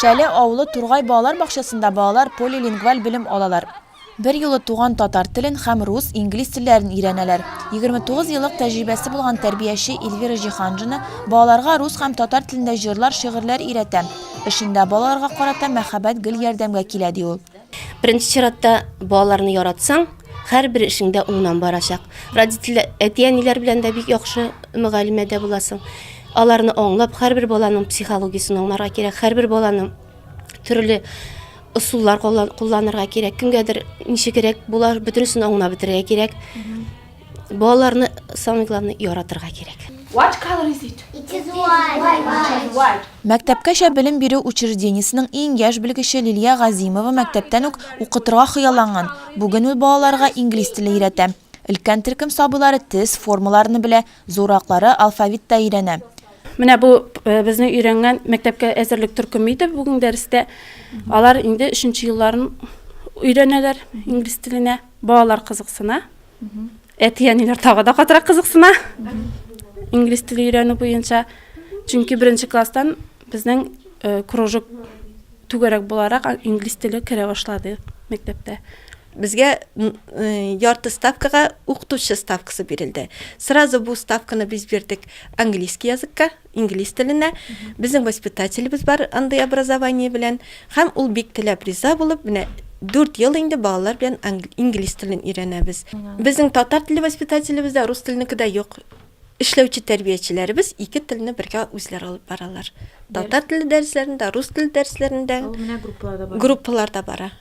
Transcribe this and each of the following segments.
Шәле авылы Тургай балалар бакчасында балалар полилингваль белем алалар. Берьюлы туган татар телен һәм рус, инглиз телләрен өйрәнәләр. 29 еллык тәҗрибәсе булган тәрбияче Эльвира Җиһанжина балаларга рус һәм татар телендә җырлар-шигырьләр өйрәтә. Эшендә балаларга карата мәхәббәт гел ярдәмгә килә, ди ул. Беренче чиратта балаларны яратсаң, һәрбер эшең дә уңнан барачак. Родитель әти-әниләр белән дә бик яхшы мөгалимәдә буласың. Аларны аңлап, һәрбер баланың психологиясен аңларга кирәк, һәрбер баланың төрле ысуллар кулланырга кирәк. Кемгәдер ничегрәк була, бөтенесен аңлап бетерергә кирәк. Балаларны самый главный яратырга кирәк. What color is it? It is white. White. White. Мәктәпкәчә белем бирү учреждениесенең иң яшь белгече Лилия Газимова мәктәптән үк укытырга хыялланган. Бүген ул балаларга инглиз теле өйрәтә. Өлкән төркем сабыйлары тез формаларны белә, зураклары алфавит та өйрәнә. Менә бу э, безнең өйрәнгән мәктәпкә әзерлек төркеме иде бүген дәрестә. Алар инде өченче елларын өйрәнәләр инглиз теленә. Балалар кызыксына. Әти-әниләр тагы да катырак кызыксына. Инглиз теле өйрәнү буенча. Чөнки беренче класстан безнең э, кружок түгәрәк буларак инглиз теле керә башлады мәктәптә. Безгә э, ярты ставкага укытучы ставкасы бирелде. Сразу бу ставканы без бирдек английский языкка, Инглиз теленә. Безнең воспитателебез бар андый образование белән. Һәм ул бик теләп риза булып, менә дүрт ел инде балалар белән инглиз телен өйрәнәбез. Безнең татар теле воспитателебез дә, рус теленеке дә юк. Эшләүче тәрбиячеләребез ике телне бергә үзләре алып баралар. Татар теле дәресләрен дә, рус теле дәресләрен дә. Менә группалар да бара. Группалар да бара.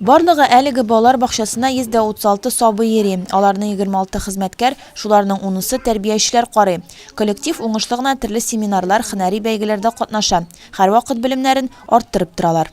Барлыгы әлеге балалар бакчасына 136 сабый йөри, аларны 26 хезмәткәр, шуларның унысы тәрбиячеләр карый. Коллектив уңышлы гына төрле семинарлар, хөнәри бәйгеләрдә катнаша, һәрвакыт белемнәрен арттырып торалар.